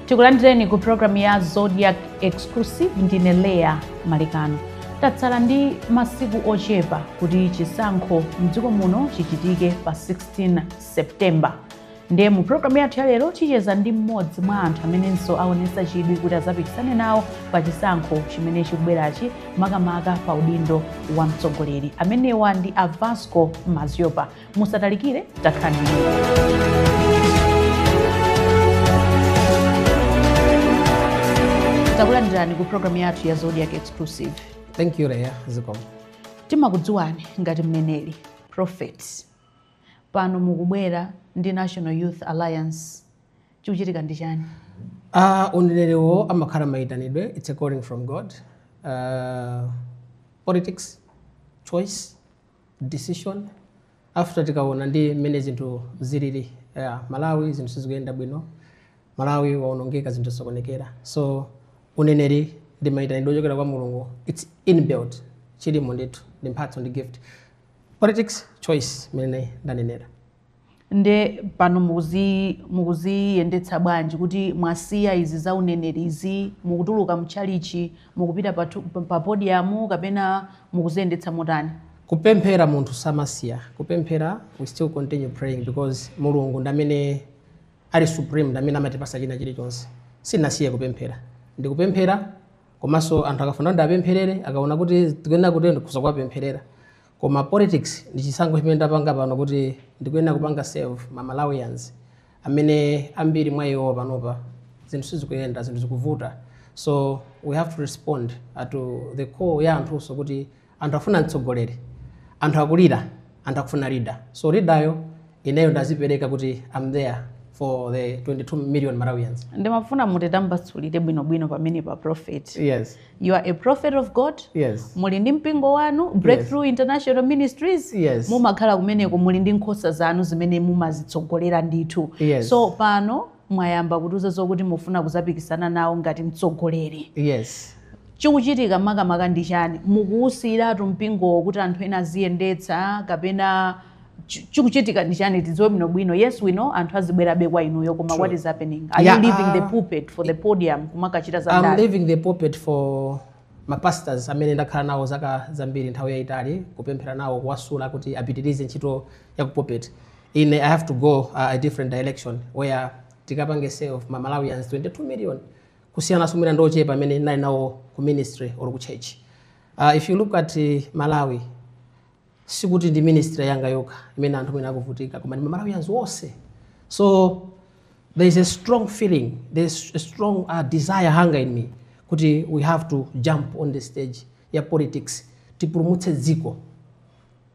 tikulandireni ku programu ya zodiac exclusive ndine leya malekano tatsala ndi masiku ochepa kuti chisankho mdziko muno chichitike pa 16 septemba ndiye mu programu yathu ya lero ticheza ndi mmodzi mwa anthu amenenso aonesa chidwi kuti azapikisane nawo pa chisankho chimene chikubwerachi makamaka pa udindo wa mtsogoleri amenewa ndi a vasco madziopa musatalikire takhala nanu. takulandirani ku programu yathu ya zodiac exclusive thank you leya zikomo timakudziwani ngati mneneri prophet pano mukubwera ndi National Youth Alliance chikuchitika ndi chani? A uneneriwo amakhala mayitanidwe, it's a calling from God. Uh, politics, choice, decision. After titaona mmene zinthu zilili yeah, Malawi zinthu sizikuyenda bwino, Malawi waonongeka zinthu zasokonekera. So uneneri ndi mayitanidwe ochokera kwa Mulungu, it's inbuilt, chilimo ndithu, ndi mphatso ndi gift. politics choice mmene ndanenera nde pano mukuzi- mukuziyendetsa bwanji kuti mwasiya izi za uneneri izi mukutuluka mtchalitchi mukupita patu- pa- pa podiyamu kapena mukuziyendetsa motani kupemphera munthu samasiya kupemphera we still continue praying because mulungu ndamene ali supreme ndamene amatipasa china chilichonse sinasiye kupemphera ndikupemphera komanso anthu akafuna kuti ndapempherere akaona kuti ndikuyenera kuti ndikhoza kuwapempherera koma politics ndi chisankho chimene ndapanga pano kuti ndikuyenera kupanga serve ma malawians amene ambiri mwa iwo panopa zinthu sizikuyenda zinthu zikuvuta so we have to respond to the call ya anthunso kuti Anthu afuna mtsogoleri, anthu akulira, anthu akufuna leader, so leader yo ineyo ndazipereka kuti I'm there for the 22 million Malawians. Ndimafuna mutitambasulire bwino bwino pamene pa prophet. Yes. You are a prophet of God. Yes. Muli ndi mpingo wanu Breakthrough yes. International Ministries. Yes. Mumakhala kumeneko muli ndi nkhosa zanu zimene mumazitsogolera ndithu. Yes. So pano mwayamba kutiuza zokuti mufuna kuzapikisana nawo ngati mtsogoleri yes chikuchitika makamaka ndi chani mukuwusiyiratu mpingowo kuti anthu ena aziyendetsa kapena chi- chikuchitika ndi chani tidziwe bwino bwino yes we know anthu azibwerabe kwa inuyo koma what is happening are you leaving the pulpit for the podium kumakachita za ndale i'm leaving the pulpit for mapastors amene ndakhala nawo zaka zambiri nthawi yayitali kupemphera nawo kuwasula kuti apitirize ntchito ya ku pulpit ine i have to go uh, a different direction where tikapange serve ma malawians 22 million kusiyana ndi mwina ndiochepa amene nali nawo ku ministry or ku church uh, if you look at uh, malawi sikuti ndi ministry yanga yokha imene anthu mwina akuvutika koma ndi ma malawians onse so there is a strong feeling there is a strong uh, desire hunger in me kuti we have to jump on the stage ya politics tipulumutse dziko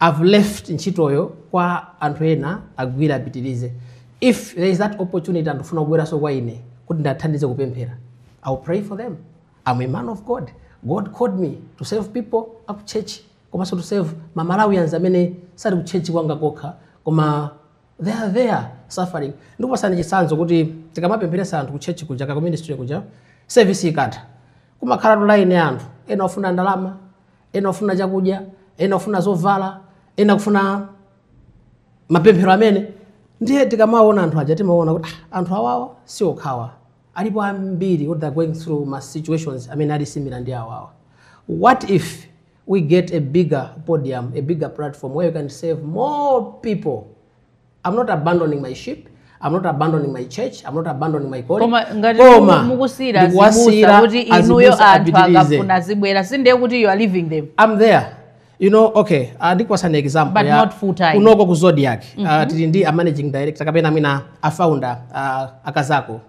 I've left ntchitoyo kwa anthu ena agwire apitirize. If there is that opportunity anthu akufuna kubweranso kwa ine kuti ndiwathandize kupemphera, I will pray for them. I'm a man of God. God called me to serve people aku church komanso to serve ma Malawians amene sali ku church kwanga kokha koma they are there suffering. Ndikupasani chitsanzo kuti tikamapempheresa anthu ku church kuja ka ku ministry kuja service ikatha kumakhalatu line ya anthu ena ofuna ndalama ena kufuna chakudya ena kufuna zovala ena kufuna mapemphero amene ndiye tikamaona anthu aja timaona kuti ah, anthu awawa si okhawa alipo ambiri what they're going through ma situations amene ali similar ndi awawa what if we get a bigger podium a bigger platform where you can serve more people I'm not abandoning my sheep. I'm not abandoning my church. I'm not abandoning my calling. Koma ngati Koma, mukusira ndikuwasiyira zibusa kuti inuyo azibusa anthu apitirize. akafuna azibwera sindiye kuti you are leaving them. I'm there. You know, okay, uh, ndikupasani example But ya not full time. kunoko ku Zodiak. Uh, tili ndi a managing director kapena mwina a founder uh, a Kazako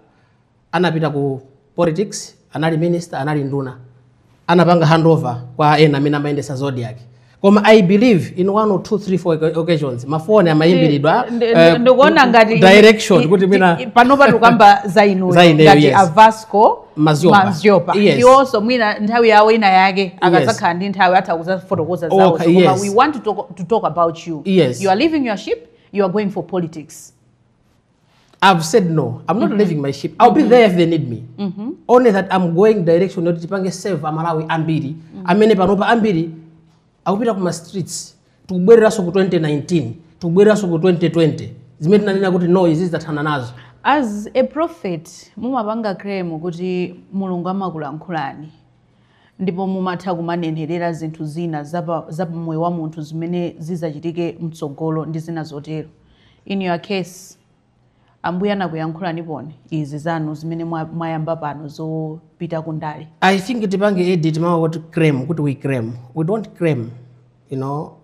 anapita ku politics, anali minister, anali nduna, anapanga handover kwa ena amene amayendetsa zodiak koma i believe in one or two three four oca- occasions mafoni amayimbiridwa eh, ndikuona ngati direction kuti mwina panopa tikukamba za inuyo Za ineyo, ngati yes. avasco Maziopa. maziopa Yes. ndiwonso mwina nthawi yawo ina yake akazakhala ndi nthawi atha kuzafotokoza zawo Okay, koma yes. we want to talk, to talk about you Yes. you are leaving your sheep you are going for politics I've said no. I'm not mm -hmm. leaving my sheep. I'll mm -hmm. be mm-hmm. there if they need me. Mm -hmm. Only that I'm going direction yoti tipange serve amalawi ambiri. Mm -hmm. Amene panopa ambiri akupita kuma streets tikubwereranso ku 2019 tikubwereranso ku 2020 zimene tinanena kuti no izi tidathana nazo as a prophet mumapanga claim kuti mulungu amakulankhulani Ndipo mumatha kumanenherera zinthu zina za pa, za pa moyo wa munthu zimene zidzachitike mtsogolo, ndi zina zotero. In your case, Ambuye anakuyankhulaniponi izi zanu zimene mwa, mwayamba pano zopita ku ndale. I think tipange edit mau oti claim kuti we claim. We don't claim, you know.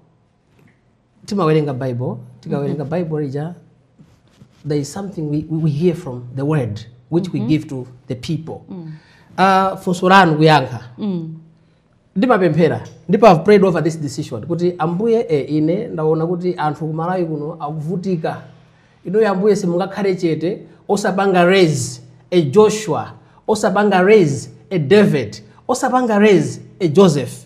timawerenga bible tikawerenga mm -hmm. bible lija there is something we, we hear from the word which mm -hmm. we give to the people mm. uh, funso lanu kuyankha mm. ndimapemphera ndipo i've prayed over this decision kuti ambuye e, ine ndaona kuti anthu kumalawi kuno akuvutika inuyo ambuye simungakhale chete osapanga raise a joshua osapanga raise a david osapanga raise a joseph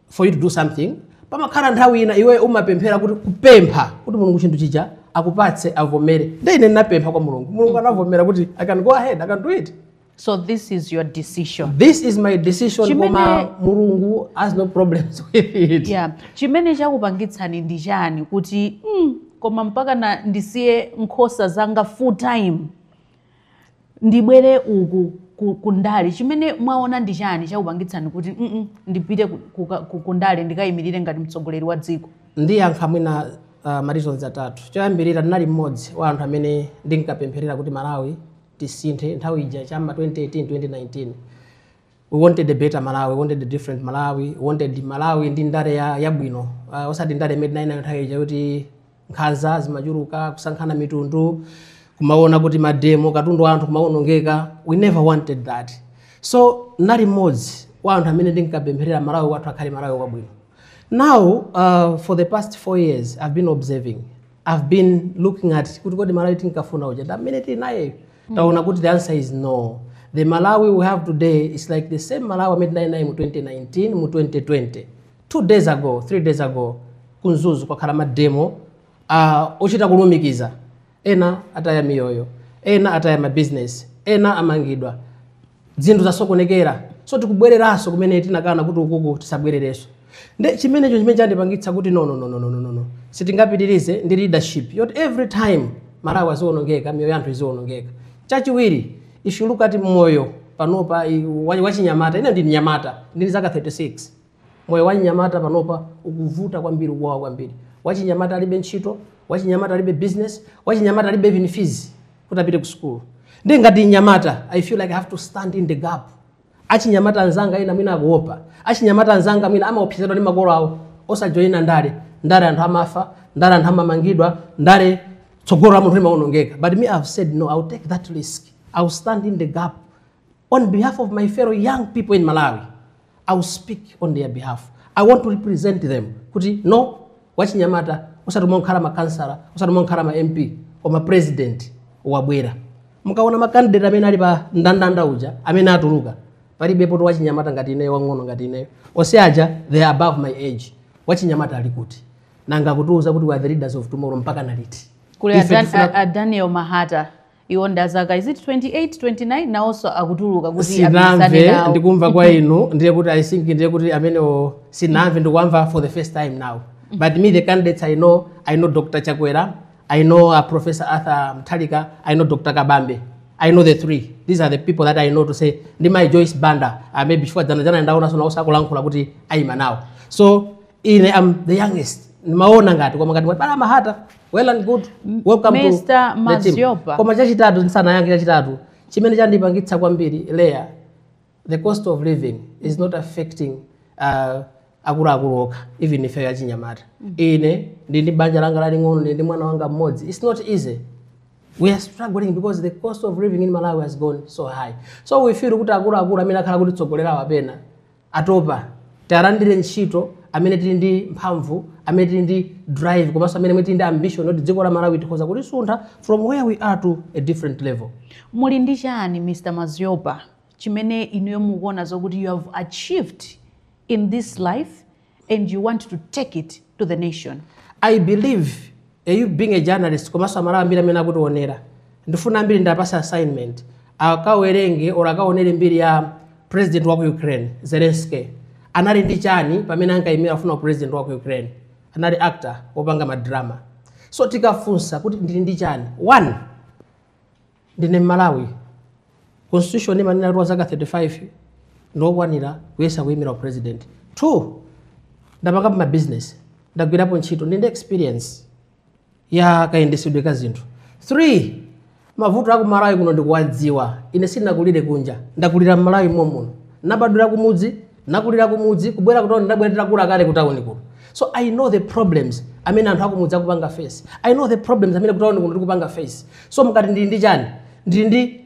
for you to do something pamakhala nthawi ina iwe umapemphera kuti kupempha kuti mulungu chinthu chija akupatse avomere nde ine ndinapempha kwa mulungu mulungu anavomera kuti i can go ahead i can do it so this is your decision this is my decision Chimene- koma mulungu has no problems with it yeah. chimene chakupangitsani ndi chani kuti mm, koma mpaka na ndisiye nkhosa zanga full time ndibwere uku ku, ku ndale chimene mwaona ndi chani chakupangitsani kuti mm -mm, ndipite ku, ku, ku, ku ndale ndikayimirire ngati mtsogoleri wa dziko ndiyankha mwina uh, mareasons atatu choyambirira ndinali mmodzi wa anthu amene ndinkapempherera kuti malawi tisinthe nthawi ija cha mma 2018 2019 we wanted a better malawi we wanted a different malawi we wanted malawi ndi ndale ya- yabwino uh, osati ndale imene tinali nayo nthawi ija kuti nkhanza zimachuluka kusankhana mitundu kumaona kuti mademo katundu wa anthu kumawonongeka we never wanted that so nali mmodzi wa anthu amene ndinkapempherera malawi wathu akhale malawi wabwino now uh, for the past four years i've been observing I've been looking at kuti kodi Malawi tinkafuna uja ndamene tili nayeyo ndaona kuti the answer is no the Malawi we have today is like the same Malawi amene tinali naye mu 2019 mu 2020 two days ago three days ago ku Mzuzu kwakhala mademo uh, ochita kulumikiza ena ataya miyoyo ena ataya mabizinesi ena amangidwa zinthu zasokonekera so tikubwereranso kumene tinakana kuti ukuku tisabwererenso nde n'chimenecho chimene chandipangitsa kuti no, no, no, no, no, no, no, no. sitingapitirize ndi leadership yoti every time malawi azionongeka miyoyo yanthu izionongeka chachiwiri if you look at moyo panopa i- wa- wachinyamata ine ndi mnyamata ndili zaka 36 Moyo wachinyamata panopa ukuvuta kwambiri, ukuwawa kwambiri. Wachinyamata alibe ntchito, wachinyamata alibe business, wachinyamata alibe even fees kuti apite ku school. Nde ngati mnyamata, I feel like I have to stand in the gap. Achinyamata anzanga ena mwina akuopa, achinyamata anzanga mwina amaopsezedwa ndi makolo awo osajoyina ndale. Ndale anthu amafa, ndale anthu amamangidwa, ndale tsogolo la munthu limawonongeka. But me I have said no, I will take that risk. I will stand in the gap. on behalf of my fellow young people in malawi i will speak on their behalf i want to represent them kuti no wachinyamata osati mongokhala makansala osati mongokhala ma mp koma president wabwera mukaona makandidate amene ali pa ndandanda uja amene atuluka palibepo to wachinyamata ngati ineyo wang'ono ngati ineyo onse aja they are above my age wachinyamata ali kuti nanga kutiuza kuti we are the leaders of tomorrow mpaka naliti kuli Ife a Dan- tifuna- a- a daniel mahata iwo ndi azaka is it 28 29 nawonso akutuluka kuti akapikisane sinamve nawo ndikumva kwa inu ndiye kuti i think ndiye kuti amenewo sinamve ndikuwamva for the first time now but me the candidates i know i know dr chakwera i know uh, professor arthur mutharika i know dr kabambe i know the three these are the people that i know to say ndi mai joyce banda uh, maybe chifukwa dzana dzana ndaonanso nawonso akulankhula kuti ayima nawo so ine i'm the youngest ndimaona ngati koma ngati mwati pali a mahata well and good welcome to the team. Mr. Maziopa. koma chachitatu ndisanayankhe chachitatu chimene chandipangitsa kwambiri Leah the cost of living is not affecting uh, akuluakulu okha even ife achinyamata ine ndili ndi banja langa laling'ono ndi ndi mwana wanga mmodzi it's not easy we are struggling because the cost of living in malawi has gone so high so we feel kuti akuluakulu amene akhala kutitsogolerawa pena atopa, tiwalandire ntchito amene tili ndi mphamvu, amene tili ndi drive komanso amene tili ndi ambition yoti dziko la Malawi tikhoza kulisuntha from where we are to a different level. Muli ndi chani Mr Maziopa chimene inuyo mukuona zokuti you have achieved in this life and you want to take it to the nation? I believe you being a journalist komanso amalawi ambiri amene akutionera ndifuna ambiri ndiwapatse assignment akawerenge or akaonere mbiri ya president wa ku ukraine zelensky anali ndi chani pamene ankayimira akufuna upresident wa ku ukraine anali actor wopanga madrama so tikafunsa kuti ndili ndi chani one Ndine Mmalawi. Constitution imanena kuti wazaka 35 ndiwokwanira kuyesa kuyimira upresident. Two, ndapangapo ma business, ndagwirapo ntchito, ndili ndi experience ya kayendesedwe ka zinthu. Three, mavuto aku Malawi kuno ndikuwadziwa. Ine sindinakulire kunja, ndakulira m'Malawi momuno. Nabadwira kumudzi, nakulira kumudzi kubwera kutauni ndabwera nditakula kale kutauni kuno so i know the problems amene anthu akumudzi akupanga face i know the problems amene kutauni kuno tikupanga face so mukati ndili ndi chani ndili ndi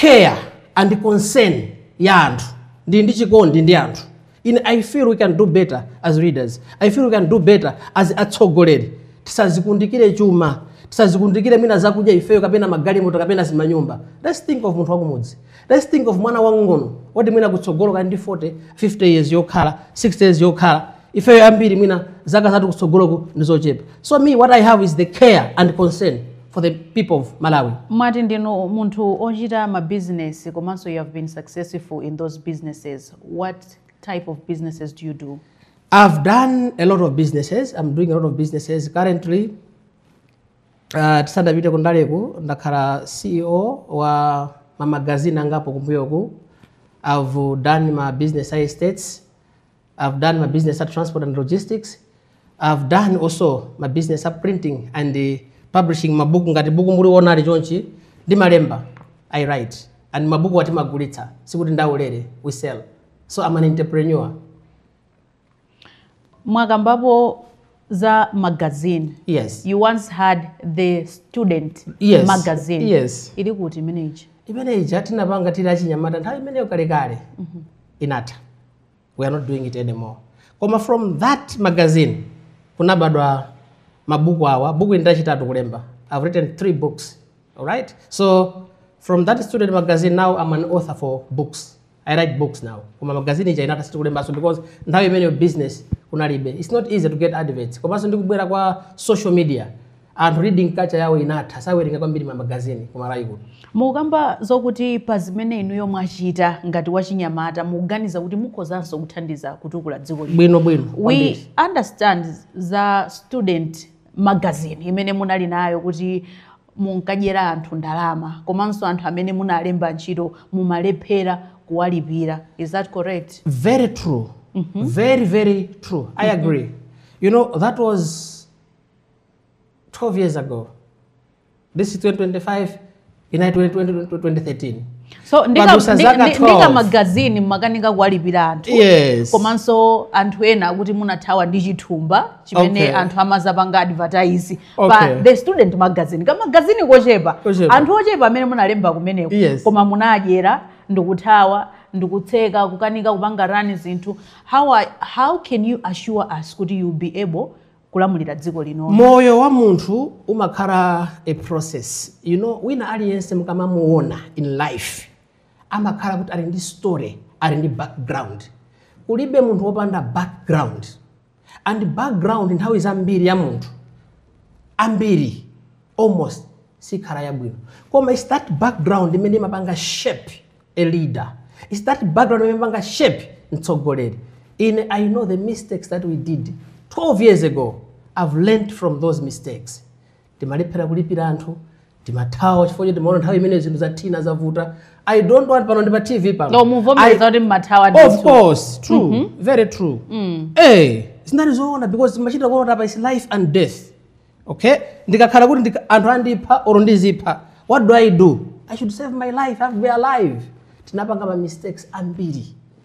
care and concern ya anthu ndili ndi chikondi ndi anthu ine i feel we can do better as leaders i feel we can do better as atsogoleri tisadzikundikire chuma tisadzikundikire mwina zakudya ifeyo kapena magalimoto kapena zimanyumba let's think of munthu wakumudzi Let's think of mwana wang'ono woti mwina kutsogolo kali ndi 40, 50 years yokhala, 60 years yokhala. Ifeyo ambiri mwina zaka zathu kutsogoloku ndi zochepa. So me what I have is the care and concern for the people of Malawi. mwati ndinu munthu ochita ma business komanso you have been successful in those businesses what type of businesses do you do I've done a lot of businesses. I'm doing a lot of businesses currently. Uh, tisadapite kundaleku ndakhala ceo wa mamagazini angapo kumbuyoku i've done ma business a estates i've done ma business a transport and logistics i've done also ma business a printing and uh, publishing mabuku ngati buku muliona ili chonchi ndimalemba i write and mabuku awa timagulitsa sikuti ndi aulere we sell so i'm an entrepreneur mwakambapo za magazine yes you once had the student Yes. magazine Yes. ili kuti imene ija imene ija tinapanga tili achinyamata nthawi imeneyo kalekale inatha we are not doing it anymore koma from that magazine kunabadwa mabuku awa buku ili ndi lachitatu kulemba i've written three books alright so from that student magazine now i'm an author for books I write books now. Koma magazine ija inatha sitikulembanso because nthawi imeneyo business kunalibe. It's not easy to get adverts. Komanso ndi kubwera kwa social media. Anthu reading culture yawo inatha sawerenga kwambiri ma magazine ku Malawi kuno. mukamba zokuti pa zimene inuyo mwachita ngati wachinyamata mukuganiza kuti mukhozanso kuthandiza kutukula dziko lino Bwinobwino. we kwambiri. understand za student magazine imene munali nayo kuti munkadyera anthu ndalama komanso anthu amene munalemba ntchito mumalephera kuwalipira is that correct very true very very true i agree you know that was 12 years ago this is 2025 inali 2013 so But ndika- usa ndi- zaka ndi- 12. ndi kamagazini mumakanika kuwalipira anthu Yes. komanso anthu ena akuti munathawa ndi chithumba chimene Okay. anthu amadzapanga advertise okay. pa the student magazine kamagazini kochepa anthu ochepa amene munalemba kumeneko yes. koma munadyera ndikuthawa ndikutseka kukanika kupanga run zinthu how, are, how can you assure us kuti you'll be able kulamulira dziko lino moyo wa munthu umakhala a process you know wina aliyense mukamamuona in life amakhala kuti ali ndi story ali ndi background kulibe munthu wopanda background and background nthawi zambiri ya munthu ambiri almost sikhala yabwino koma it's that background imene imapanga shape a leader it's that background imene imapanga shape mtsogoleri ine i know the mistakes that we did 12 years ago i've learned from those mistakes timalephera kulipira anthu timathawa chifukwa choti timaona nthawi imene zinthu zathina zavuta i don't want pano ndi pa tv pano no muvomereza I- kuti mmathawa of ndithu. course true very true eh zinalizoona because machita kuona apa is life and death okay ndikakhala kuti ndika- anthu andipha or ndizipha what do i do i should save my life i have to be alive tinapanga ma mistakes ambiri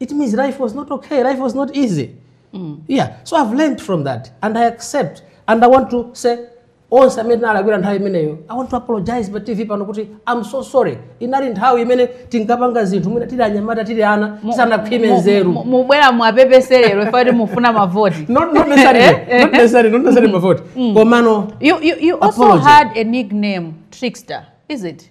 it means life was not okay, life was not easy. Mm. Yeah, so I've learned from that and I accept and I want to say onse amene tinalakwira nthawi imeneyo i want to apologize pa tv pano kuti i'm so sorry inali nthawi imene tinkapanga zinthu mwina tili anyamata tili ana tisanakhwime nzeru Mu- mubwera muwapepeserero ife kuti mufuna mavoti not not necessarily not necessarily not necessarily mavoti komano you, you, you also Apology. had a nickname trickster is it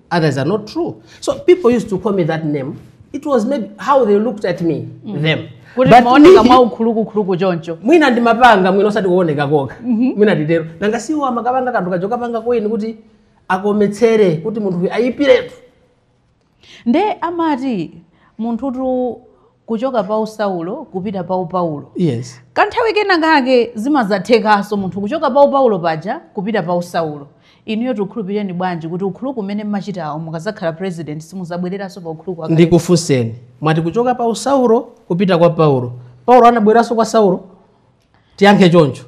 Others are not true. So people used to call me that name. It was maybe how they looked at me, mm. them. kuti But maoneka me- mwa ukhulukukhuluku choncho mwina ndimapanga mwina osati kuoneka koka mwina nditero nanga si amakapanga kanthu kachokapanga coin kuti akometsere kuti munthu uyu ayipiretu nde amati munthutu kuchoka pa usaulo kupita pa upaulo yes kanthawi kena kake zimazathekanso munthu kuchoka pa upaulo paja kupita pa usaulo inuyo tikukhulupirireni bwanji kuti ukhuluku umene mmachitawo mukazakhala president simuzabwereranso pa ukhuluku wakale? ndikufunseni mwati kuchoka pa usaulo kupita kwa paulo paulo anabwereranso kwa saulo tiyankhe choncho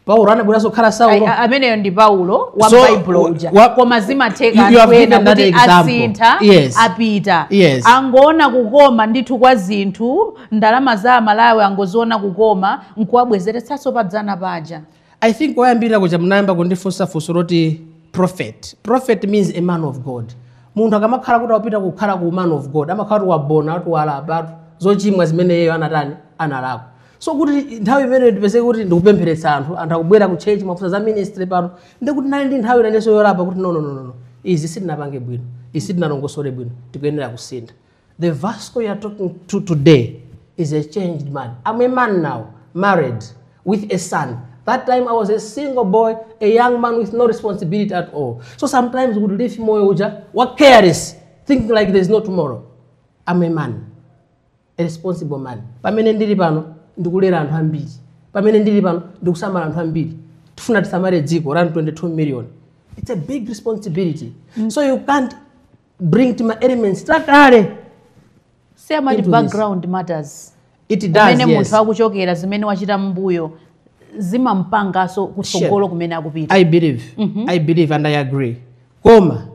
paulo anabwereranso kukhala Ai, saulo a- ameneyo ndi paulo wa So, baibulo wa- uja wa- koma zimatheka You- you have anthu ena given that kuti example. asintha Yes. apita Yes. angoona kukoma ndithu kwa zinthu ndalama za amalawi angoziona kukoma nkuwabwezeretsanso padzana paja i think koyambirira kuja munayamba kundifunsa funso loti prophet prophet means a man of god munthu akamakhala kuti wapita kukhala ku man of god amakhala kuti waona kuti walapa zochimwa zimene iyeyo anatani analakwa so kuti nthawi imeneyo ndipezeke kuti ndikupempheretsa anthu anthu akubwera ku church mwafunsa za ministry pano ndi kuti ndinali ndi nthawi inenso yolapa kuti no no no no no. izi sitinapange bwino izi sitinalongosole bwino tikuyenera kusintha the vasco you are talking to today is a changed man i'm a man now married with a son that time i was a single boy a young man with no responsibility at all so sometimes we would live moyo uja wa careless thinking like there is no tomorrow i'm a man A responsible man. Pamene ndili pano ndikulera anthu ambiri. Pamene ndili pano ndikusamala anthu ambiri. Tifuna tisamale dziko la anthu 22 million. It's a big responsibility. Mm. So you can't bring tima elements takale. Si amati background this. matters. It does, kumene yes. munthu akuchokera zimene wachita m'mbuyo zimampangaso kutsogolo kumene akupita. I believe. Mm -hmm. I believe and I agree. Koma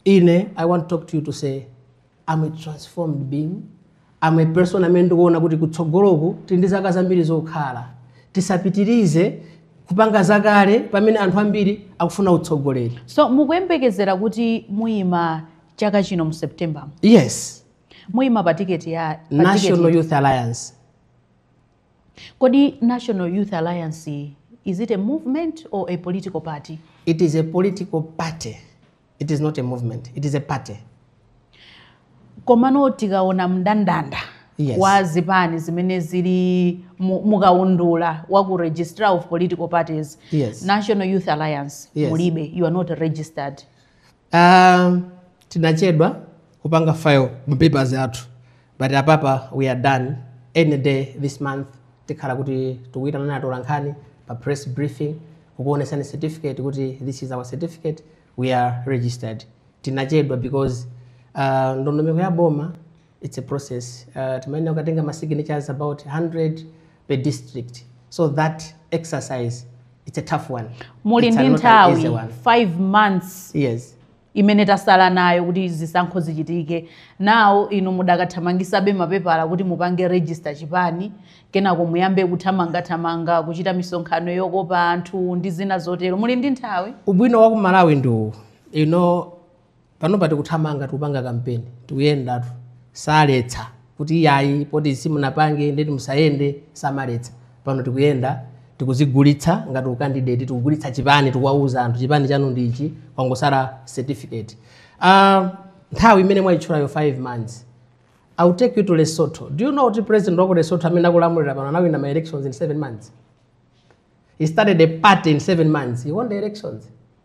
ine I want to talk to you to say am a transformed being am a person amene ndikuona kuti kutsogoloku tili ndi zaka zambiri zokhala tisapitirize kupanga zakale pamene anthu ambiri akufuna utsogoleri so mukuyembekezera kuti muyima chaka chino mu september yes muyima pa tiketi ya pa tiketi national iti? youth alliance kodi national youth alliance is it a movement or a political party it is a political party it is not a movement it is a party komano tikaona mndandanda Yes. wa zipani zimene zili mu- mukaundula wa ku registrar of political parties Yes. national youth alliance Yes. mulibe you are not registered um, tinachedwa kupanga file mapapers athu but apapa we are done any day this month tikhala kuti tikuyitanani atolankhani pa press briefing kukuonesani certificate kuti this is our certificate we are registered tinachedwa because uh, ndondomeko ya boma it's a process uh, timayenera kukatenga ma signatures about 100 per district so that exercise it's a tough one muli It's ndi not an easy nthawi one. 5 months yes imene tasala nayo kuti zisankho zichitike now inu mudakathamangisabe mapepala kuti mupange register chipani kenako muyambe kuthamangathamanga kuchita misonkhano yokopa anthu ndi zina zotero muli ndi nthawi ubwino wa ku malawi ndi uwu panopa tikuthamanga tikupanga kampeni tikuyendatu saletsa kuti iyayi poti simunapange ndeti musayende samaletsa pano tikuyenda tikuzigulitsa ngati ukandidate tikugulitsa chipani tikuwauza anthu chipani chanu ndi ichi kwangosala certificate uh, nthawi imene mwayitchulayo 5 months I'll take you to Lesotho. Do you know kuti president wa Lesotho amene akulamulira pano anawina ma elections in 7 months? He started a party in 7 months. He won the elections.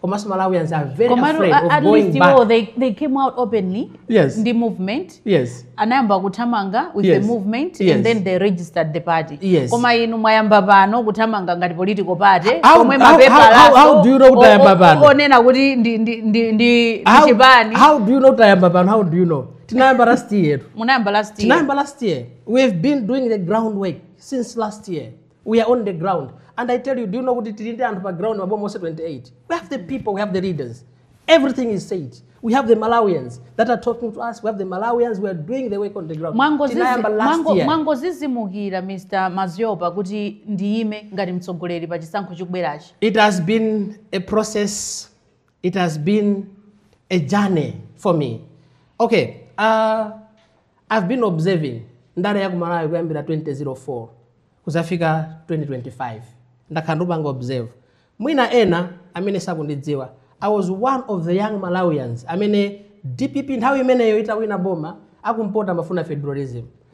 koma so malawians are very komatu afraid a- of at going back iwo they, they came out openly Yes. ndi movement yes anayamba kuthamanga with Yes. the movement Yes. and then they registered the party Yes. koma inu mwayamba pano kuthamanga ngati political party How- pomwe how- how- mapepala how- how do you know kuti tayamba pano? onena kuti ndi ndi ndi ndi how, chipani how do you know tayamba pano how do you know tinayamba last year yetu munayamba last year tinayamba last year we have been doing the groundwork since last year We are on the ground. And I tell you, do you know kuti tili ndi anthu pa ground maboma onse 28? We have the people, we have the leaders. Everything is set. We have the Malawians that are talking to us. We have the Malawians. We are doing the work on the ground. Tinayamba last year. Mwangodzidzimukira Mr. Maziopa kuti ndiyime ngati mtsogoleri pa chisankho chikubwerachi. It has been a process it has been a journey for me okay uh, i've been observing ndale ya kumalawi kuyambira 2004 kuzafika 2025 ndakhala ndikupanga observe mwina ena amene sakundidziwa i was one of the young malawians amene dpp nthawi imeneyo itawina boma akumpota amafuna federalism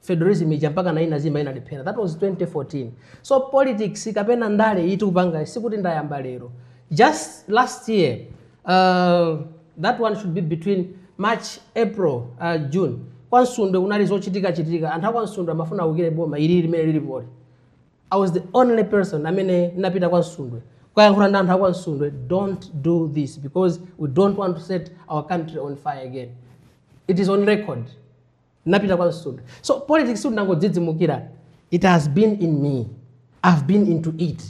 federalism ija mpaka nayi inazima inalephera that was 2014 so politics kapena ndale ndikupanga sikuti ndayamba lero just last year uh, that one should be between march april uh, june kwa msundwe kunali zochitika chitika anthu akwa msundwe amafuna awukire boma ili limene lilipoli i was the only person amene napita kwa msundwe kukayankhula ndi anthu akwa msundwe don't do this because we don't want to set our country on fire again it is on record napita kwa msundwe so politics sindinangodzidzimukira it has been in me i've been into it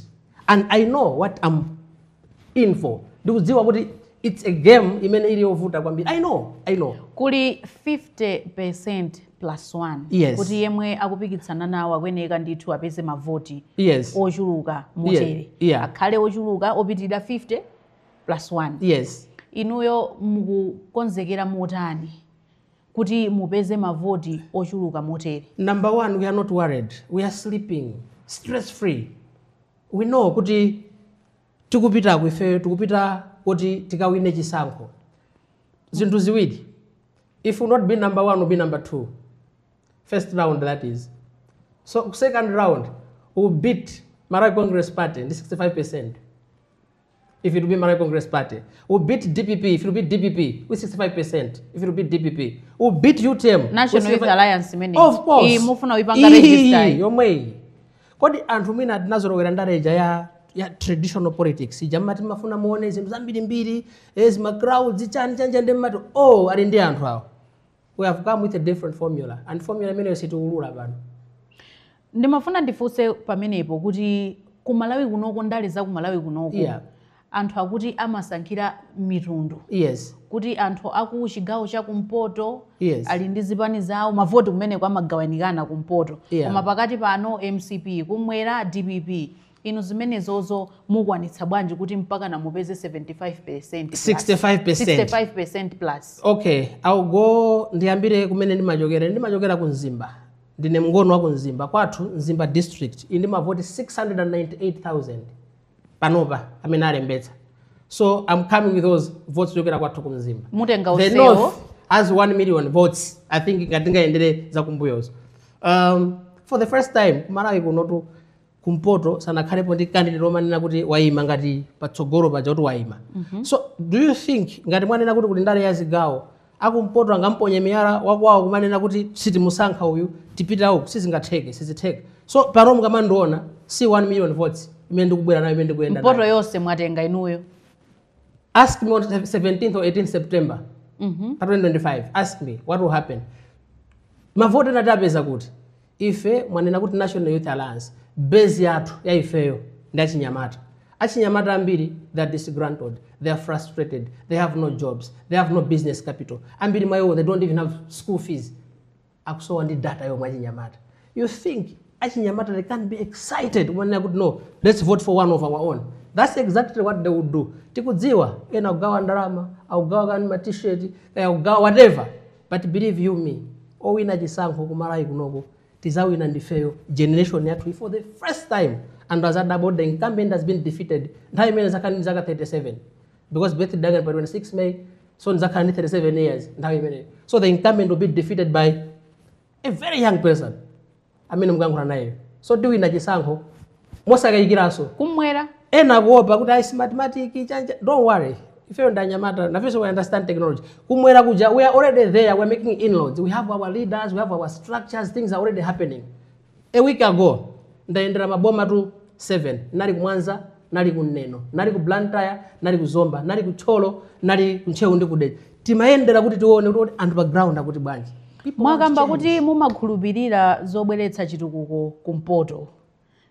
and i know what i'm in for ndikudziwa kuti it's a game imene ili yovuta kwambiri i know i know kuli 50% plus 1 yes. kuti yemwe akupikitsana nawo akuyeneka ndithu apeze mavoti yes. ochuluka motere yes. yeah. akhale ochuluka opitirira 50 plus 1 yes. inuyo mukukonzekera motani kuti mupeze mavoti ochuluka motere. Number one, we are not worried. We are sleeping stress free. We know kuti tikupitako ifeyo tikupita kuti tikawine chisankho. Zinthu ziwiri. If we'll not be number one, we'll be number two. First round that is. So second round, we'll beat Malawi Congress Party ndi 65%. if it will be Malawi Congress Party, we'll beat DPP if it will be DPP with 65%, if it will be DPP, we'll beat UTM. National Youth Alliance many. Of course. Iyi mufuna uipanga register. Iyi yomwe iyi. Kodi anthu mwina tinazolowera ndale ija ya ya traditional politics ija mumati mumafuna muone zinthu zambirimbiri ezi eh, ma crowds chani chanija ndi mumati oh ali ndi anthu awo. We have come with a different formula and formula imeneyo sitiulula pano. Ndimafuna ndifunse pamenepo kuti ku Malawi kunoko ndale za ku Malawi kunoko yeah. anthu akuti amasankhira mitundu yes. kuti anthu aku chigawo cha kumpoto yes. ali ndi zipani zawo mavoti kumeneko amagawanikana kumpoto yeah. koma pakati pano mcp kumwera dpp inu zimenezozo mukwanitsa bwanji kuti mpakana mupeze 75%, 65%. 65% plus okay I'll go ndiyambire kumene ndimachokera ndimachokera ku mzimba Ndine mngoni wa ku Mzimba kwathu Mzimba district ili ndi mavoti 698,000 panopa amene alembetsa so am coming with those votes kuchokera kwathu ku Mzimba. Mutenga The onsewo. north has 1 million votes I think ngati tingayendere zakumbuyozo. Um, for the first time kumalawi kunotu kumpoto sanakhalepo ndi candidate omanena kuti waima ngati patsogolo paja kuti waima so do you think ngati mwanena kuti kuli ndale ya zigawo akumpoto angamponye miyala wakwawo kumanena kuti sitimusankha uyu tipita uku sizingatheke so pano mukamandiona si 1 million votes imene ndikubwera nayo imene ndikuyenda nayo mpoto yonse mwatenga inuyo ask me on 17th or 18th september pa 2025 ask me what will happen mavoti ena tapeza kuti Ife mwanena kuti National Youth Alliance, base yathu ya ifeyo ndi achinyamata. Achinyamata ambiri they are disgruntled, they are frustrated, they have no jobs, they have no business capital. Ambiri mwa iwo they don't even have school fees. Akusowa ndi data yomwe achinyamata. You think achinyamata they can't be excited umanena kuti no, let's vote for one of our own. That's exactly what they would do. Tikudziwa ena akugawa ndalama, akugawa kani ma t-shirt, eh, akugawa whatever. But believe you me owina chisankho ku Malawi kunoko tizawina ndifeyo generation yathuyi for the first time anthu azadabwa kuti the incumbent has been defeated nthawi imene nizakhala ndi zaka 37 because birthday yanga ndi pa 26 May so ndizakhala ndi 37 years nthawi imeneyo so the incumbent will be defeated by a very young person amene mukuyankhula nayeyo so tiwina chisankho mosakayikiranso kumwera ena akuopa kuti ayi smartmatic chanja don't worry ifeyo ndi anyamata nafenso we understand technology kumwera kuja we are already there we are making inroads we have our leaders we have our structures things are already happening a week ago ndayendera maboma tu 7 nali ku mwanza nali ku neno nali ku blantyre nali ku zomba nali ku thyolo nali ku ntcheu ndi kudedza timayendera kuti tione kuti anthu pa ground akuti bwanji mwakamba kuti mumakhulupirira zobweretsa chitukuko kumpoto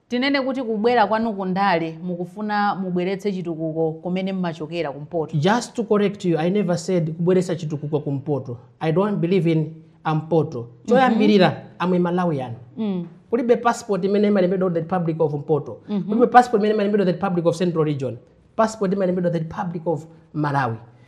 tinene kuti kubwera kwanu kundale mukufuna mubweretse chitukuko kumene mmachokera kumpoto just to correct you i never said kubweretsa chitukuko kumpoto i don't believe in mpoto choyambirira am a malawian kulibe passport imene imalembedwa the republic of mpoto kulibe passport imene imalembedwa the republic of central region passport imalembedwa the republic of malawi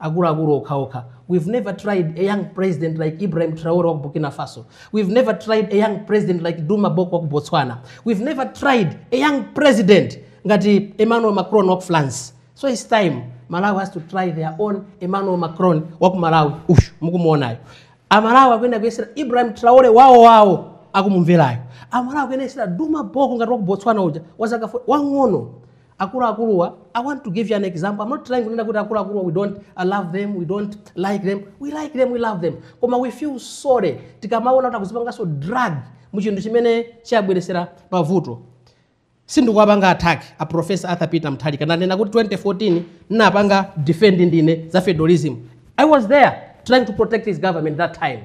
akuluakulu okhaokha we've never tried a young president like ibrahim traore wa ku burkina faso we've never tried a young president like duma boko wa ku botswana we've never tried a young president ngati emmanuel macron wa ku france so its time malawi has to try their own emmanuel macron wa ku malawi uyu mukumuonayo amalawi akuyenera kuyesera ibrahim traore wawo wawo akumumverayo amalawi akuyenera kuyesera duma boko ngati wa ku botswana uja wazaka 40 wang'ono Akuluakuluwa, I want to give you an example. I'm not trying kunena kuti akuluakuluwa we don't love them, we don't like them. We like them, we love them. Koma we feel sorry tikamaona kuti akuzipanganso drag mu chinthu chimene chiwabweresera mavuto. sindikuwapanga attack a professor arthur peter mutharika ndanena kuti 2014 ndinapanga defend ndine za federalism i was there trying to protect his government that time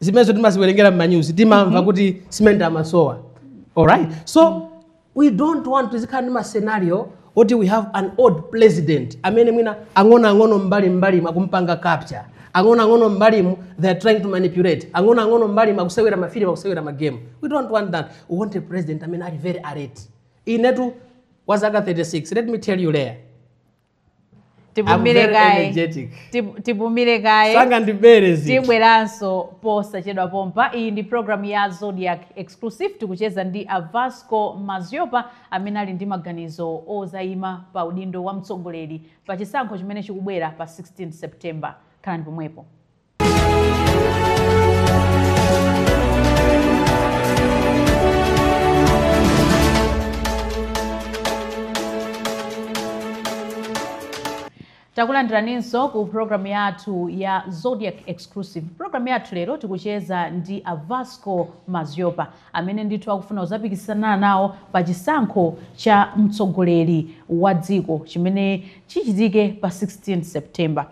zimenezo timaziwerengera m'manyuzi timamva kuti simenti amasowa alright so we don't want tizikhala ndi ma scenario oti we have an old president amene mwina ang'onoang'ono m'mbalimbalimu akumpanga capture ang'onoang'ono mbalimu they are trying to manipulate ang'onoang'ono mbalimu akusewera mafilimu akusewera magemu we don't want that we want a president amene ali very alert inetu wa zaka 36 let me tell you later I'm very energetic. tipumire kaye sanga ndibere zinthu tibweranso posachedwa pompa iyi ndi programu ya zodiac exclusive tikucheza ndi a Vasco Madhlopa amene ali ndi maganizo ozayima pa udindo wa mtsogoleri pa chisankho chimene chikubwera pa 16 september khalani pomwepo takulandiraninso ku programu yathu ya zodiac exclusive programu yathu lero tikucheza ndi a Vasco Madhlopa amene ndithu akufuna kuzapikisana nawo pa chisankho cha mtsogoleri wa dziko chimene chichitike pa 16 september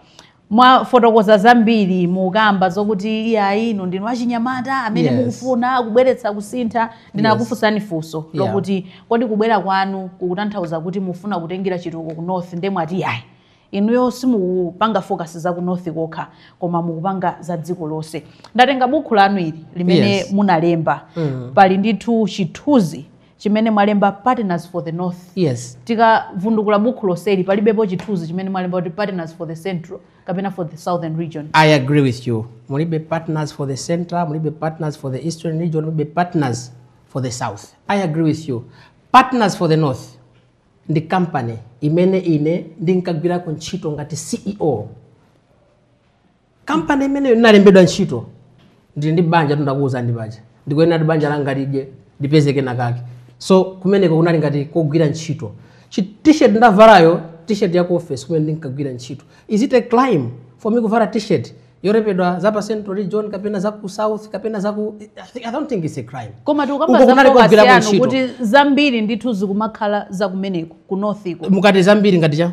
mwafotokoza zambiri mukukamba zokuti iyayi inu ndinu achinyamata amene Yes. mukufuna kubweretsa kusintha ndinakufunsani funso Yeah. lokuti kodi kubwera kwanu kukutanthauza kuti mufuna kutengera chitukuko ku north nde mwati iyayi inuyo simukupanga focus za ku north kokha koma mukupanga za dziko lonse ndatenga bukhu lanu ili limene Yes. munalemba Mm. pali ndithu chithunzi chimene mwalemba partners for the north yes tikavundukula bukhu loseli palibepo chithunzi chimene mwalemba kuti partners for the central kapena for the southern region i agree with you mulibe partners for the central mulibe partners for the eastern region mulibe partners for the south i agree with you partners for the north ndi company imene ine ndinkagwirako ntchito ngati ceo kampani imeneyo ndinalembedwa ntchito ndili ndi banja ndakuwuzani ndi banja ndikuyenera kuti banja langa lidye ndipeze kena kake so kumeneko kunali ngati kogwira ntchito Chi- t-shirt ndavalayo t-shirt ya ku office kumene ndinkagwira ntchito is it a crime for me kuvala t-shirt yolembedwa za pa central region kapena za ku south kapena za ku I think- i don't think it's a crime koma Uko tikukamba za kunali focus kogwirako yanu ntchito. kuti zambiri ndithu zikumakhala za kumeneko ku northiko mukati zambiri ngati cha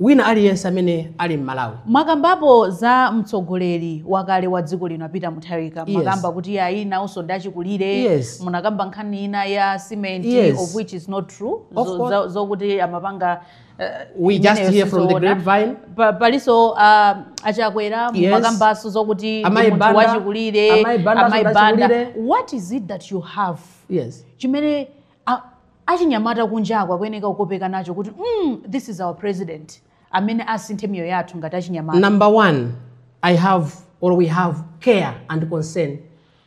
Wina aliyense amene ali m'Malawi. Mwakambapo za mtsogoleri wakale wa dziko lino a Peter Mutharika Yes. mumakamba kuti iyayi nawonso ndi achikulire Yes. munakamba nkhani ina ya cement Yes. of which is not true Of Zo- course. za- zokuti amapanga eh, We just imeneyo hear from the sizoona. grapevine. Pa- palinso a Chakwera Yes. mumakambanso zokuti ndi Amayi munthu Banda. wachikulire Amayi Banda Amayi so Banda. ndachikulire. what is it that you have Yes. chimene A- achinyamata kunjaku akuyeneka kukopeka nacho kuti mm, this is our president amene asinthe miyoyo yathu ngati achinyamata Number one, I have or we have care and concern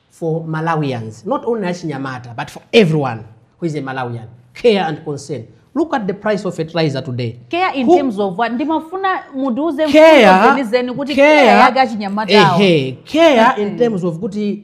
for Malawians, not only Achinyamata, but for everyone who is a Malawian. Care and concern. Look at the price of fertilizer today. care in Who- terms of what ndimafuna mudiuze mfundo care, zenizeni kuti care yake achinyamatawo ehe, care in terms of kuti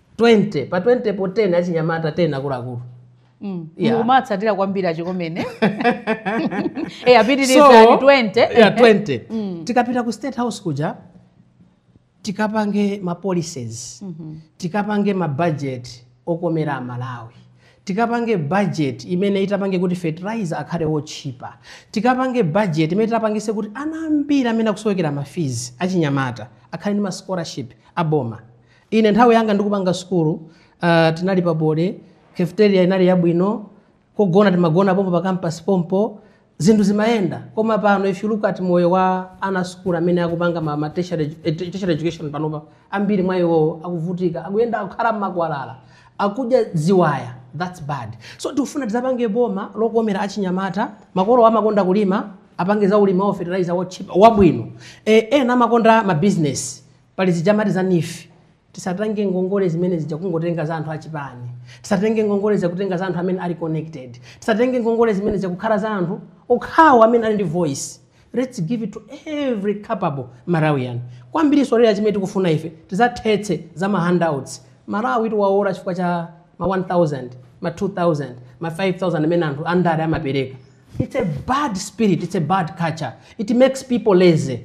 20 pa 20 po 10 achinyamata 10 akuluakulu Mm. Yeah. mukumatsatira kwambiri a Chikomeni e apitirizani 20 yeah, 20. tikapita ku state house kuja tikapange ma policies tikapange ma budget okomera amalawi tikapange budget imene itapange kuti fertilizer akhale wotchipa tikapange budget imene itapangise kuti ana ambiri amene akusowekera ma fees achinyamata akhale ndi ma scholarship aboma Ine nthawi yanga ndikupanga sukulu uh, tinali pa board, cafeteria inali yabwino, kogona timagona pompo pa campus pompo, zinthu zimayenda. Koma pano if you look at moyo wa ana sukulu amene akupanga ma, ma tertiary, edu- eh, tertiary education panopa, ambiri mwa iwowo akuvutika, akuyenda akukhala mmakwalala, akudya ziwaya, that's bad. So tikufuna tizapange boma lokomera achinyamata, makolo amakonda kulima, apange za ulimi wa fertilizer wotchipa, wabwino. Eh, ena amakonda ma business Pali zija amati za NEEF, tisatenge ngongole zimene zija kungotenga za anthu achipani, tisatenge ngongole zija kutenga za anthu amene ali connected, tisatenge ngongole zimene zija kukhala za anthu okhawo amene ali ndi voice, let's give it to every capable Malawian. Kwambirinso lera chimene tikufuna ife tizathetse za ma handouts, Malawitu waola chifukwa cha ma 1000, ma 2000, ma 5000 amene anthu andale amapereka. It's a bad spirit, it's a bad culture, it makes people lazy.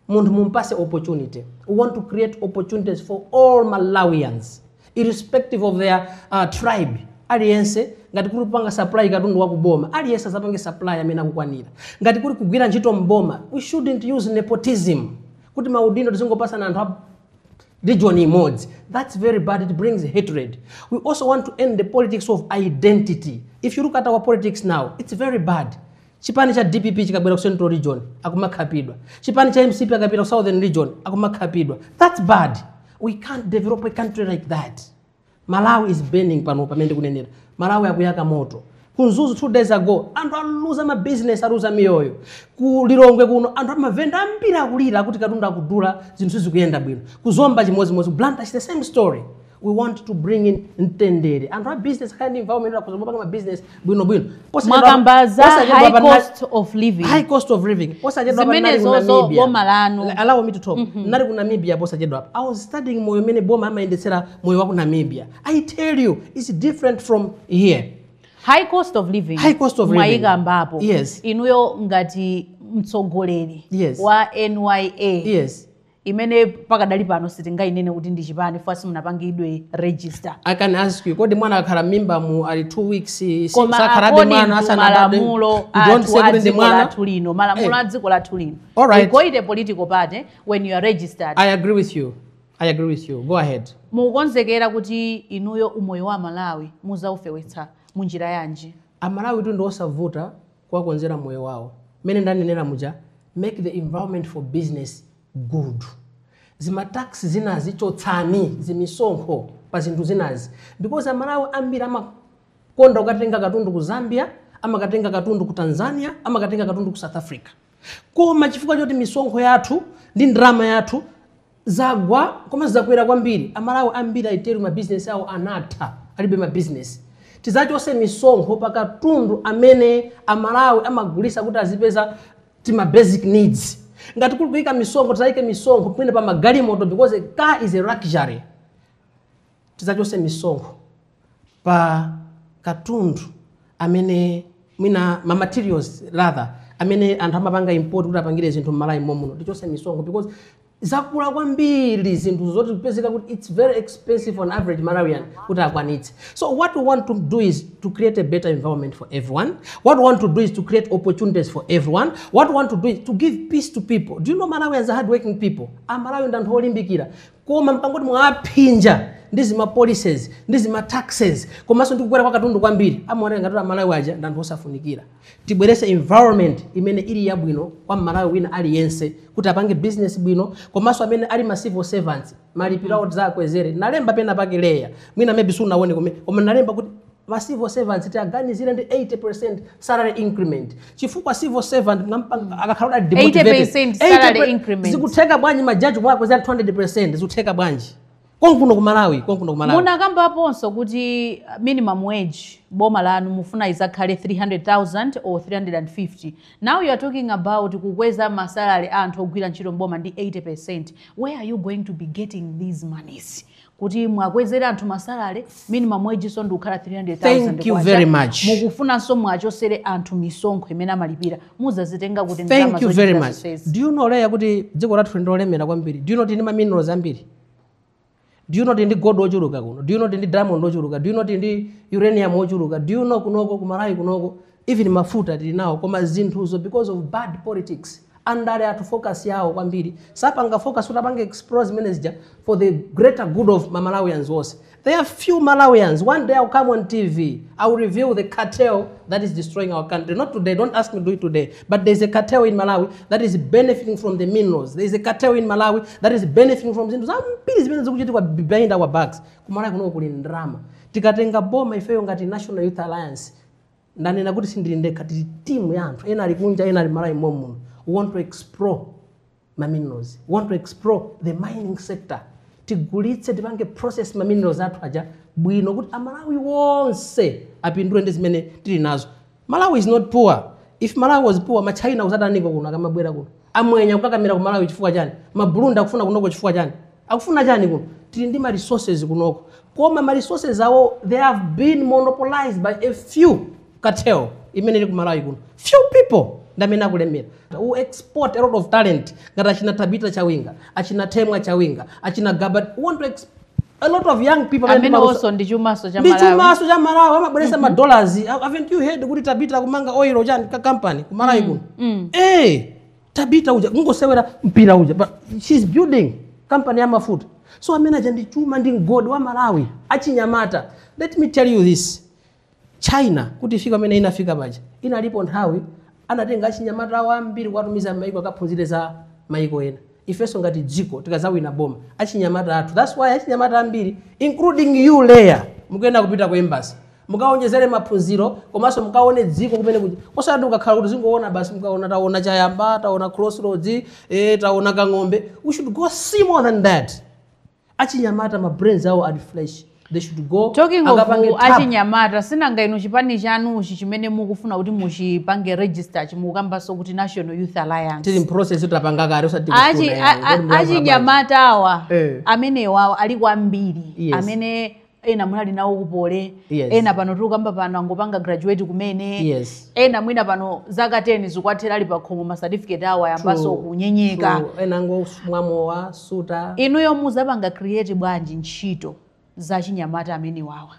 munthu mumpase opportunity we want to create opportunities for all malawians irrespective of their uh, tribe aliyense ngati kuli kupanga supply katundu wakuboma aliyense azapange supply amene akukwanira ngati kuli kugwira ntchito mboma we shouldn't use nepotism kuti maudindo tizingopasana anthu a region imodzi that's very bad it brings hatred we also want to end the politics of identity if you look at our politics now it's very bad Chipani cha dpp chikabwera ku central region akumakhapidwa. Chipani cha mcp akapita ku southern region akumakhapidwa. That's bad. We can't develop a country like that. Malawi is burning pano pamene ndikunenera. Malawi akuyaka moto. Ku Mzuzu two days ago anthu aluza ma business aluza miyoyo. Ku Lilongwe kuno anthu amavenda ambiri akulira kuti katundu akudula zinthu sizikuyenda bwino. Ku Zomba chimodzimodzi, ku Blantyre the same story. we want to bring in mtendere anthu a business kind of environment akhoza kumapanga ma business bwino bwino mwakamba za high cost of living high cost of living posachedwapa nali ku Namibia boma lanu allow me to talk mm -hmm. nali ku Namibia posachedwapa i was studying moyo umene boma amayendetsera moyo wa ku Namibia i tell you it's different from here high cost of living high cost of living mwaikambapo yes inuyo ngati mtsogoleri yes wa NYA yes imene pakadali pano sitingainene kuti ndi chipani chifukwa simunapangidwe register i can ask you kodi mwana akakhala m'mimba mu ali two weeks si- koma sakhalabe according mwana to asanabadwe? malamulo You don't athu say a kuti ndi dziko mwana lathu lino malamulo Eh. a dziko lathu lino All right. you call it a political party when you are registered i agree with you i agree with you go ahead mukukonzekera kuti inuyo umoyo wa amalawi muzaufewetsa munjira yanji amalawitu ndi osavuta kuwakonzera moyo wawo. Mmene ndanenera muja, make the environment for business good. Zima tax zinazi chotsani, zimisonkho pa zinthu zinazi because Amalawi ambiri amakonda kukatenga katundu ku Zambia, amakatenga katundu ku Tanzania, amakatenga katundu ku South Africa. koma chifukwa choti misonkho yathu ndi ndalama yathu zagwa koma zakwera kwambiri amalawi ambiri I tell you mabizinesi awo anatha alibe mabizinesi tizachose misonkho pa katundu amene amalawi amagulisa kuti azipeza tima basic needs ngati kuli kuyika misonkho tizayike misonkho pamene pa magalimoto because a car is a luxury tidzachotse misonkho pa katundu amene mwina ma materials rather amene anthu amapanga import kuti apangire zinthu m'malawi momuno tichotse misonkho because zakula kwambiri zinthu zotikupezeka kuti it's very expensive for an average malawian kuti akwanitse so what we want to do is to create a better environment for everyone what we want to do is to create opportunities for everyone what we want to do is to give peace to people do you know malawians are hardworking people amalawi ndi anthu olimbikira koma mpang'ono poti mwawaphinja ndi zima policies ndi zima taxes komanso ndi kukwera kwa katundu kwambiri amaoneka ngati kuti amalawi aja ndi anthu osafunikira tibwerese environment imene ili yabwino kwa mmalawi wina aliyense kuti apange business bwino komanso amene ali ma civil servants malipiro awo tidzakwezere nalemba pena pake leya mwina maybe sunaone koma nalemba kuti ma civil servants tiaganizire ndi 80% salary increment chifukwa civil servant mnampanga akakhala ali demotivated 80% salary 80% increment. zikutheka bwanji majaji mwakwezera 200% zikutheka bwanji konkuno ku Malawi konkuno ku Malawi munakambaponso kuti uh, minimum wage boma lanu mufuna izakhale 300000 or 350 now you are talking about kukweza masalary a anthu ogwira ntchito mboma ndi 80% where are you going to be getting these monies kuti mwakwezere anthu ma salary minimum wage so ndikukhala 300000 mukufunanso mwachosere anthu misonkho imene amalipira muzazitenga kuti ndalama thank you very much do you know leya kuti dziko lathu ndilolemera kwambiri do you know tili ndi maminerals ambiri do you know tili ndi gold ochuluka kuno do you know tindi diamond ochuluka do you know tili ndi uranium ochuluka do you know kunoko kumalawi kunoko even mafuta tili nawo koma zinthuzo because of bad politics andale athu focus yawo kwambiri sapanga focus kuti apange explore ma mineral aja for the greater good of malawians onse there are few malawians one day i'll come on tv i'll reveal the cartel that is destroying our country not today don't ask me to do it today but there's a cartel in malawi that is benefiting from the minerals there's a cartel in malawi that is benefiting from zinthu zambiri zimene zikuchitika behind our backs kumalawi kuno kuli ndrama tikatenga boma ifeyo ngati national youth alliance ndanena kuti sindili ndekha tili timu ya anthu ena ali kunja ena ali malawi momuno we want to explore ma minerals we want to explore the mining sector tigulitse tipange process ma minerals athu aja bwino kuti amalawi wonse apindule ndi zimene tili nazo malawi is not poor if malawi was poor ma china akuzataniko kuno akamabwera kuno amwenye kukakamira ku malawi chifukwa chani ma burundi akufuna kunoko chifukwa chani Akufuna chani kuno? Tili ndi ma resources kunoko koma ma resources awo they have been monopolized by a few cartel imene ili ku Malawi kuno. Few people ndi amene akulemera. We export a lot of talent ngati achina Tabitha Chawinga, achina Temwa Chawinga, achina Gaba, we want to export a lot of young people amene ali ndi maluso. Amenewonso ndi chumanso cha Malawi. Ndi chumanso cha Malawi amabweresa ma dollars. Haven't you heard kuti Tabitha akumanga oil chani ka company ku Malawi kuno? Eh, tabita uja kungosewera mpira uja but she's building company ya mafuta so amene aja ndi chuma ndi mgodi wa malawi achinyamata let me tell you this china kuti ifike pamene inafika paja inalipo nthawi anatenga achinyamata awo ambiri kuwatumiza maiko akaphunzire za maiko ena ifenso ngati dziko tikazawina boma achinyamata athu thats why achinyamata ambiri including you leya mukuyenera kupita ku embassy mukawonjezere maphunziro komanso mukaone dziko kumene kuja osati kukhala kuti tizingoona basi mukuona taona chayamba taona crossroads eh, taona kang'ombe we should go see more than that achinyamata ma brains awo ali fresh they should go akapange tap. talking of achinyamata si nanga inu chipani chanuchi chimene mukufuna kuti muchipange register chimukambanso kuti national youth alliance tili mprocess tapanga kale osati Achi- tikufuna a- yani, a- kodi mlamba achinyamata awa Eh. amenewa ali kwambiri Yes. amene ena munali nawo ku poly yes. ena pano tikukamba pano angopanga graduate kumene yes. ena mwina pano zaka 10 zikwathera ali pakhomo ma certificate awo ayambaso kunyenyeka ena angomwa mowa kusuta inuyo muzapanga create bwanji ntchito za achinyamata amenewawa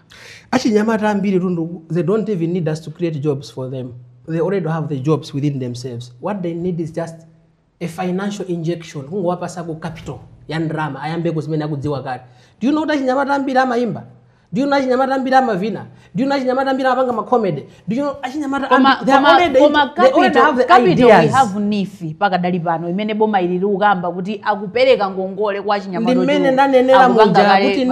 achinyamata ambiri tundu they don't even need us to create jobs for them they already have the jobs within themselves what they need is just a financial injection kungowapasako capital ya ndrama ayambeko zimene akudziwa kale do you know kuti achinyamata ambiri amayimba do you know achinyamata ambiri amavina do you know achinyamata ambiri amapanga macomedy do you know achinyamata they already have the ideas we have nifi pakadali pano imene boma ili likukamba kuti akupereka ngongole kwa achinyamata ndi mmene ndanenera muja kuti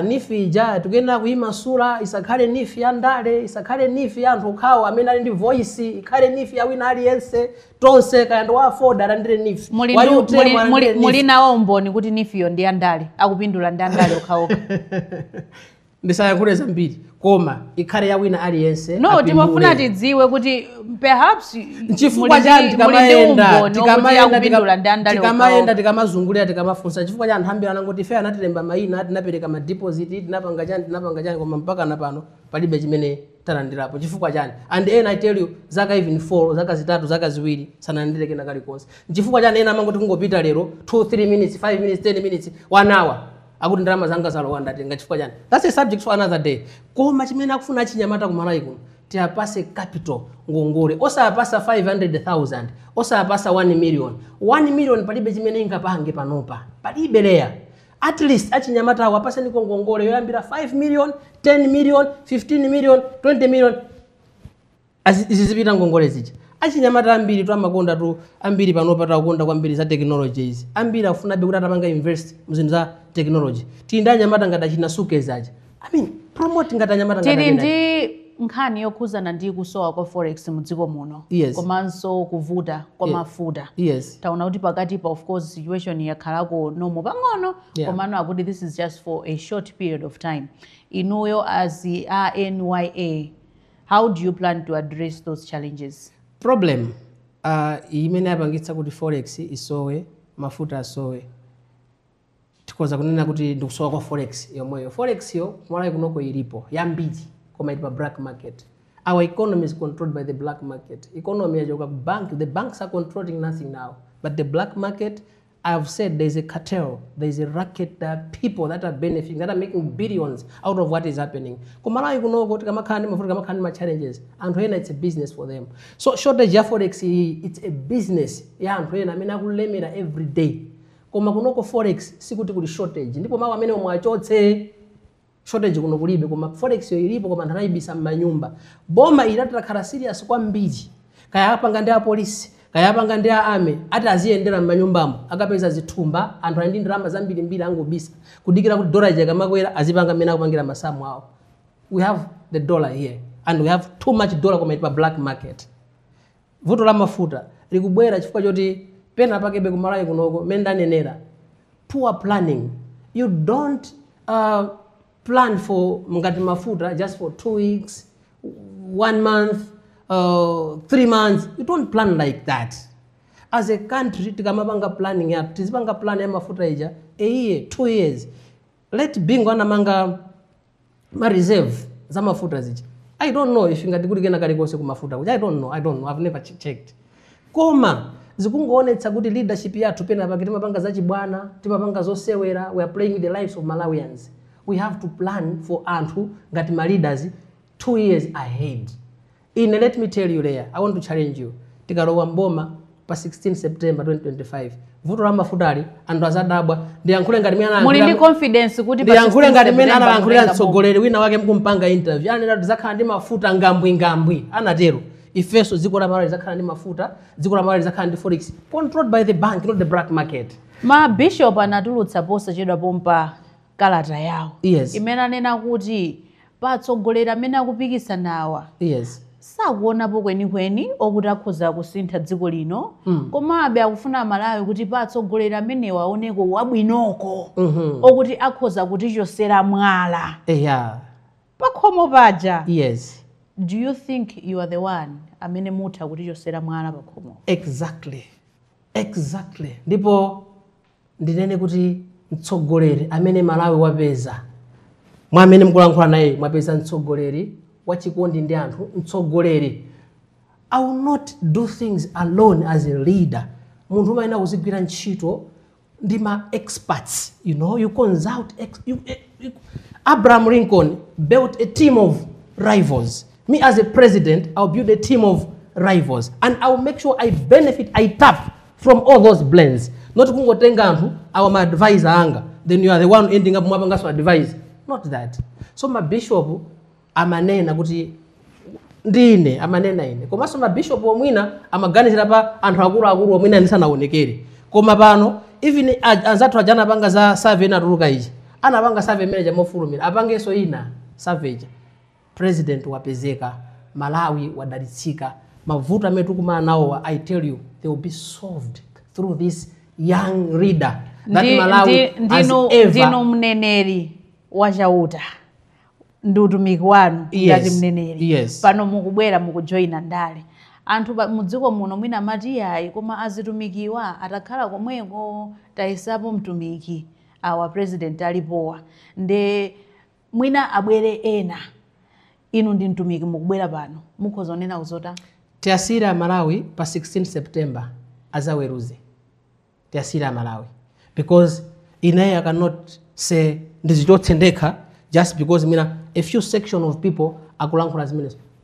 nifi ija tikuyenera kuyimasula isakhale nifi ya ndale isakhale nifi ya anthu okhawo amene ali ndi voice ikhale nifi ya wina aliyense tonse kaya ndi wa aford alandire nif wa utm alandire nif muli nawo umboni kuti nifiyo ndi ya ndale akupindula ndi andale okhaokha ndisayankhule zambiri koma ikhale ya wina aliyense no timafuna tidziwe kuti perhaps nchifukwa chani tikamayenda tikamazungulira tikamafunsa chifukwa chani anthu ambiri anangoti ife anatilemba mayina tinapereka madeposit tinapanga chani tinapanga chani koma mpaka na pano palibe chimene talandirapo chifukwa chani and ena i tell you zaka even 4 zaka zitatu zaka ziwiri sanalandire kena kalikonse nchifukwa chani ena amangoti kungopita lero 2 3 minutes 5 minutes 10 minutes 1 hour akuti ndalama zanga zalowa ndatenga chifukwa chani that's a subject for another day koma chimene akufuna achinyamata kumalawi kuno tiapase capital ngongole osapasa 500000 osapasa 1 million 1 million palibe chimene ingapange panopa palibe leya At least achinyamatawo apaseniko ngongole yoyambira 5 million, 10 million, 15 million, 20 million zizipita ngongole zija achinyamata ambiritu amakondatu ambiri panopatu akukonda kwambiri za technology izi ambiri afunabe kuti atapanga invest muzinthu za technology tili ndi anyamata ngati achina Sukez aja I mean, promote ngati anyamata ngati tili ndi nkhani yokhuzana ndi kusowa kwa forex mu dziko muno komanso kuvuta kwa mafuta taona kuti pakati pa of course situation yakhalako normal pang'ono Yeah. komano akuti this is just for a short period of time inuyo as a nya how do you plan to address those challenges problem uh, imene yapangitsa kuti forex isowe mafuta asowe Tikhoza kunena kuti ndikusowa kwa forex yomweyo. Forex yo kumalawi kunoko ilipo yambiri koma ili pa black market. Our economy is controlled by the black market. Economy yachoka ku bank, the banks are controlling nothing now but the black market. I have said there is a cartel, there is a racket, there are people that are benefiting, that are making billions out of what is happening. Kumalawi kunoko tikamakhala ndi mavuto tikamakhala ndi ma challenges, anthu ena it's a business for them. So shortage ya forex iyi, it's a business ya anthu ena amene akulemera every day. Koma kunoko forex sikuti kuli shortage ndipo mau amenewo muwachotse. Shortage kuno kulibe koma forex yo ilipo koma anthu anayibisa mmanyumba. Boma ili litakhala serious kwambiri. Kaya apanga ndi apolisi kaya apanga ndi a army ati aziyendera mmanyumbamo akapeza zithumba anthu ali ndi ndalama zambirimbiri angobisa kudikira kuti dollar ija ikamakwera azipanga mmene akupangira masamu awo. We have the dollar here and we have too much dollar koma ili pa black market. Vuto la mafuta likubwera chifukwa choti pena pakebe ku Malawi kunoko mmene ndanenera poor planning you don't uh, plan for ngati mafuta just for two weeks one month uh, three months you don't plan like that as a country tikamapanga planning yathu tizipanga plan ya mafuta ija a year two years late Bingu anamanga ma reserve za mafuta zija i don't know if ngati kuli kena kalikonse ku mafuta kuja i don't know i don't know i've never che- checked koma zikungoonetsa kuti leadership yathu pena pake timapanga zachibwana timapanga zosewera we are playing with the lives of malawians we have to plan for anthu ngati ma leaders two years ahead Ine let me tell you lea I want to challenge you tikalowa m'boma pa 16 September 2025 vuto la mafutali anthu azadabwa ndiyankhule ngati mene muli ndi confidence kuti pa 16 September mutenga boma. ndiyankhule ngati mene analankhulira mtsogoleri wina wake mkumpanga interview ananena kuti zakhala ndi mafuta ngambwingambwi anatero ifenso dziko la malawi lizakhala ndi mafuta dziko la malawi lizakhala ndi forex controlled by the bank not the black market ma bishop anatulutsa posachedwa pompa kalata yawo Yes. imene amanena kuti pa atsogoleri amene akupikisanawa yes sakuonapo kwenikweni okuti akhoza kusintha dziko lino mm. komabe akufuna amalawi kuti pa atsogoleri amenewa aoneko wabwinoko mm -hmm. okuti akhoza kutichosera mwala yeah. pakhomo paja yes do you think you are the one amene mutha kutichosera mwala pakhomo exactly exactly ndipo ndinene kuti mtsogoleri amene Malawi wapeza, mwa amene mukulankhula nayeyu mwapeza mtsogoleri wachikondi ndi anthu, mtsogoleri I will not do things alone as a leader. Munthu umayenera kuzigwira ntchito ndi ma experts, you know, you consult ex you, eh, you, Abraham Lincoln built a team of rivals. Me as a president, I'll build a team of rivals and I'll make sure I benefit, I tap from all those brains not kungotenga anthu awa ma advisor anga then you are the one ending up mwapanganso advise not that so mabishop amanena kuti ndine amanena ine komanso mabishop omwina amaganizira pa anthu akuluakulu omwina ndisanaonekere koma pano even a- anzathu aja anapanga za survey inatuluka ija anapanga survey imene ija mofulumira apangenso ina survey ija President wapezeka, Malawi wadalitsika, mavuto amene tikukumana nawowa I tell you they will be solved through this young leader that Ndi- Malawi ndi- has ndinu ever ndinu mneneri wa chauta ndi utumiki wanu Yes, ngati mneneri yes. pano mukubwera mukujoyina ndale anthu pa- mudziko muno mwina amati iyayi koma atumikiwa atakhala komweko tayesapo mtumiki awa president alipowa nde mwina abwere ena inu ndi mtumiki mukubwera pano mukhoza kunena kuzota tiwasiyire amalawi pa 16 september azaweruze tiwasiyire amalawi because ineyo i cannot say ndizichotse ndekha just because mwina a few section of people akulankhula zimenezo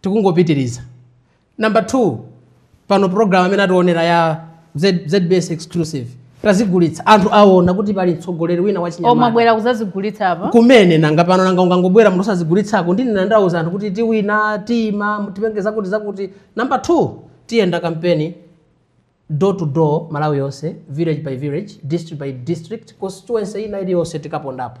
tikungopitiriza number 2 pano program amene atiwonera ya Z- zbs exclusive tazigulitsa anthu aona kuti pali mtsogoleri wina wachinyamata omabwera kuzazigulitsa apa kumene nanga pano nanga ungangobwera munthu osazigulitsako ndine ndani ndauza anthu kuti tiwina tiyima tipange zakuti zakuti number 2 tiyenda kampeni Door to door Malawi yonse, village by village, district by district, constituency ina iliyonse tikapondapo.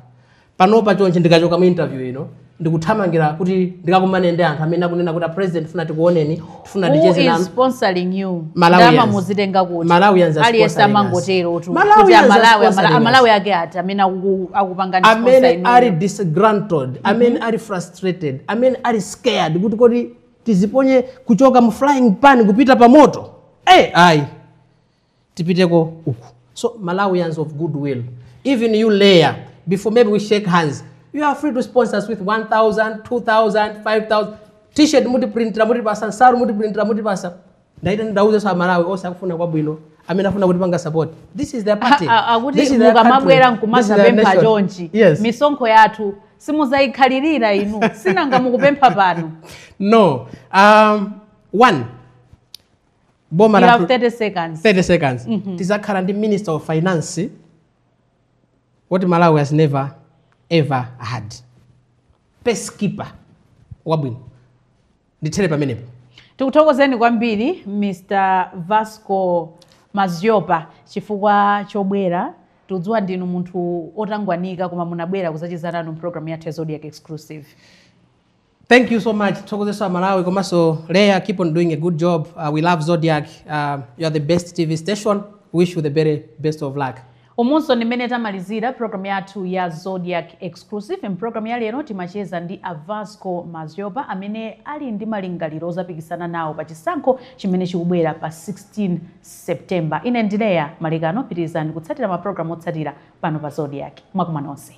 Panopa chonchi ndikachoka mu interview ino ndikuthamangira kuti ndikakumane ndi anthu amene akunena kuti a president tifuna tikuoneni, tifuna Who ticheze is nanu. sponsoring you? Malawians. Ndama muzitenga kuti. Malawians are Aliyense sponsoring us. amangotero kuti. Kuti Malawians are Amalawi, Amala- sponsoring us. Amalawi ake ati amene akuku- akupangani sponsor amene inuyo. ali disgruntled amene ali frustrated amene ali scared kuti kodi tiziponye kuchoka mu flying pan kupita pa moto eh ayi tipiteko uku so malawians of goodwill even you layer before maybe we shake hands you are free to sponsor us with 1000 2000 5000 t-shirt mutiprintira mutipasa nsaru mutiprintira mutipasa ndaita ndauzanso amalawi onse akufuna kwabwino amene afuna kutipanga support this is their party A- a- akuti This is their mukamabwera country. nkumaza This is their pempha nation. chonchi yes misonkho yathu simuzayikhalirira inu sinanga mukupempha pano no um, one boma you la have 30 seconds 30 seconds tizakhala ndi minister of finance what malawi has never ever had purse keeper wabwino ndithere pamenepo tikuthokozeni kwambiri mr vasco madhlopa chifukwa chobwera tikudziwa ndinu munthu otangwanika koma munabwera kuzacheza nanu mpulogalamu yathu ya zodiak exclusive thank you so much tithokozenso amalawi komanso leah keep on doing a good job uh, we love zodiak uh, you are the best tv station wish you the very best of luck Umunso ndi mmene tamalizira program yathu ya Zodiak Exclusive. M'program ya lero timacheza ndi a Vasco Madhlopa amene ali ndi malingaliro ozapikisana nawo pa chisankho chimene chikubwera pa 16 September. Ine ndi Leah Malekano, pitirizani kutsatira ma program otsatira pano pa Zodiak. Mwakoma nonse.